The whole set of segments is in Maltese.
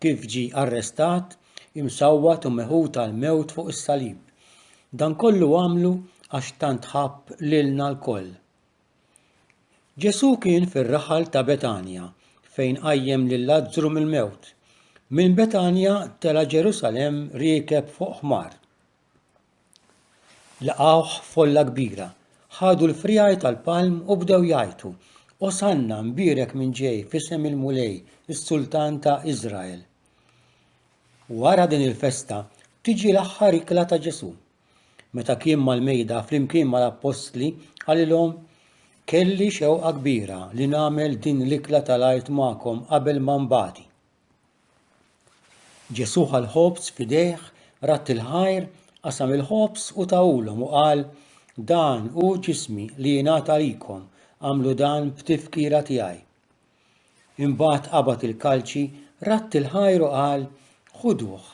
kif ġie arrestat, imsawwat u meħud għall-mewt fuq is-salib. Dan kollu għamlu għax tant ħabb lilna lkoll. Ġesù kien fir-raħal ta' Betanja fejn qajjem lil Lazzru mill-mewt. Minn Betanja tela' Ġerusalemm riekeb fuq ħmar. Laqgħuh folla kbira. Ħadu l-friegħi tal-palm u bdew jgħajtu, Osanna, mbierek min ġej f'isem il-Mulej, is-Sultan ta' Iżrael. Wara din il-festa tiġi l-aħħar ikla ta' Ġesù. Meta kien mal-mejda flimkien mal-appostli qalilhom, Kelli xewqa kbira li nagħmel din l-ikla tal-għid magħkom qabel ma nbati. Ġesù ħa l-ħobż f'idejh, radd il-ħajr, qasam il-ħobż u tahulhom u qal, Dan hu ġismi li jingħata għalikom, għamlu dan b'tifkira tiegħi. Imbagħad qabad il-kalċi, radd il-ħajr u qal, Ħuduh,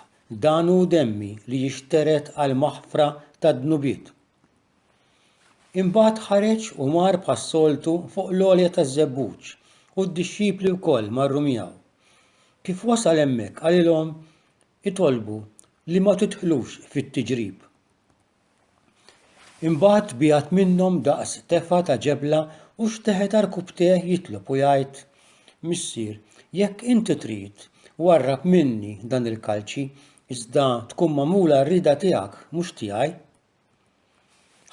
dan hu demmi li jixtered għall-maħfra tad-dnubiet. Imbagħad ħareġ u mar bħas-soltu fuq l-għolja taż-żebbuġ, u d-dixxipli wkoll marru miegħu. Kif wasal hemmhekk qalilhom, Itolbu li ma tidħlux fit-tiġrib. Imbagħad biegħed minnhom daqs tefgħa ta' ġebla u xteħet għal rkubtejh jitlob u jgħid, Missier, jekk inti trid, warrab minni dan il-kalċi, iżda tkun magħmula r-rieda tiegħek, mhux tiegħi.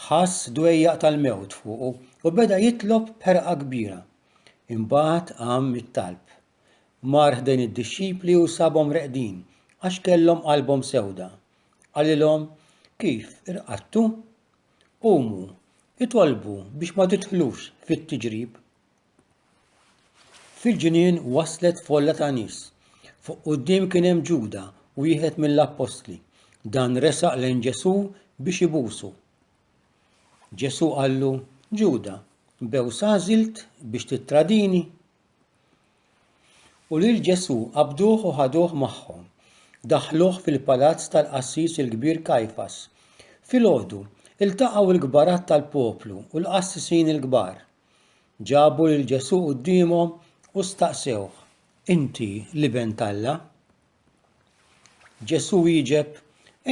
Ħass dwejjaq tal-mewt fuqu u beda jitlob b'ħerqa kbira. Imbagħad qam mit-talb. Mar ħdejn id-dixxipli u sabhom reqdin għax kellhom qalbhom sewda. Qalilhom, Kif irqadtu? Qumu, itolbu biex ma tidħlux fit-tiġrib. Fil-ġnien waslet folla ta' nies. Fuq quddiem kien hemm Ġuda, wieħed mill-appostli. Dan resaq lejn Ġesù biex ibusu. Ġesù qallu, Ġuda, bew sażilt biex tittradini? U lil Ġesù qabduh u ħaduh magħhom. Daħħluh fil-palazz tal-qassis il-kbir Kajfas. Filgħodu, iltaqgħu l-kbarat tal-poplu u l-qassisin il-kbar. Ġabu lil Ġesù quddiemhom u staqsewh, Inti l-Iben t'Alla? Ġesù wieġeb,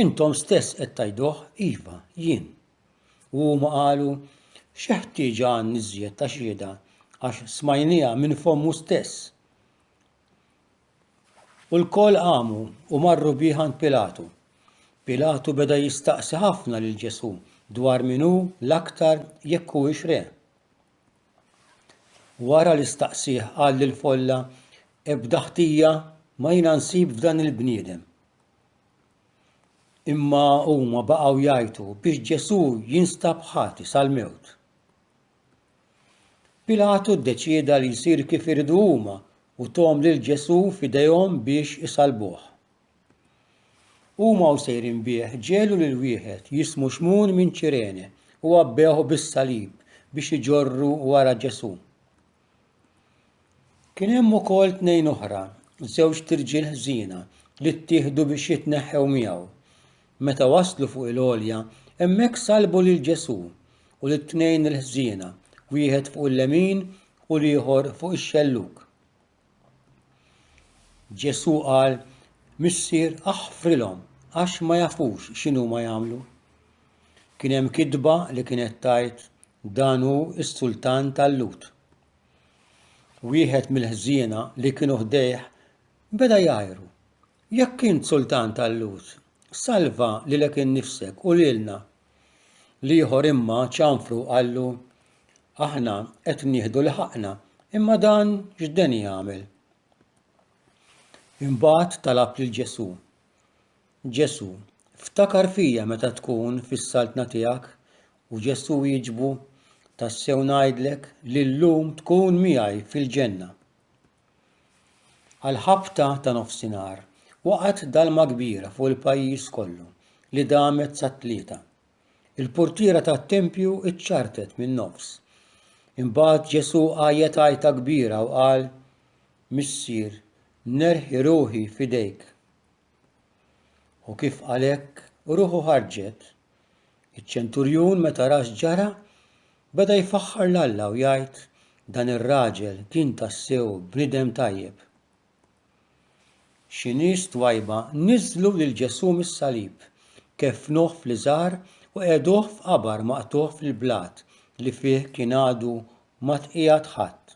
Intom stess qed tgħiduh, iva, jien. U huma qalu, Xi ħtieġa għandna iżjed ta' xhieda għax smajniha minn fommu stess. U lkoll qamu u marru bih għand Pilatu. Pilatu beda jistaqsi ħafna lil Ġesù dwar min hu l-aktar jekk huwiex re. Wara li staqsih qal lil folla ebda ħtija ma jiena nsib f'dan il-bniedem. Imma huma baqgħu jgħajtu biex Ġesù jinstab ħati sal-mewt. Pilatu ddeċieda li jsir kif iridu huma u thom lil Ġesù f'idejhom biex isallbuh. Huma u sejrin bih ġegħlu lil wieħed jismu Xmun minn Ċirene u għabbewh bis-salib biex iġorru wara Ġesù. Kien hemm ukoll tnejn oħra, żewġt irġiel ħżiena, li ttieħdu biex jitneħħew miegħu. Meta waslu fuq il-għolja, hemmhekk salbu lil Ġesù u lit-tnejn il-ħżiena, wieħed fuq il-lemin u l-ieħor fuq ix-xellug. Ġesù qal, Missier, aħfrilhom, għax ma jafux x'inhuma jagħmlu. Kien hemm kitba li kienet tgħid dan hu s-sultan tal-Lhud. Wieħed mill-ħżiena li kienu ħdejh beda jgħajru, Jekk int sultan tal-lhud, salva lilek innifsek u lilna. L-ieħor imma ċanfru u qallu, Aħna qed nieħdu li ħaqqna, imma dan x'den jagħmel? Imbagħad talab lil Ġesù, Ġesù, ftakar fija meta tkun fis-saltna tiegħek, u Ġesù wieġbu, Tassew ngħidlek li llum tkun miegħi fil-ġenna. Għall-ħabta ta' nofsinhar waqgħet dalma kbira fuq il-pajjiż kollu li damet sat-tlieta. Il-purtiera tat-tempju ċċartet min-nofs. Imbagħad Ġesù għajjet għajta kbira u qal, Missier, nerħi ruħi f'idejk. U kif għalhekk ruħu ħarġet, iċ-ċenturjun meta ra x'ġara, beda jfaħħar 'l Alla u jgħid, Dan ir-raġel kien tassew bniedem tajjeb. Xi nies twajba niżżlu lil Ġesù mis-salib, keffnuh fl-iżgħar u qegħduh f'qabar maqtugħ fil-blat li fih kien għadu ma tqiegħed ħadd.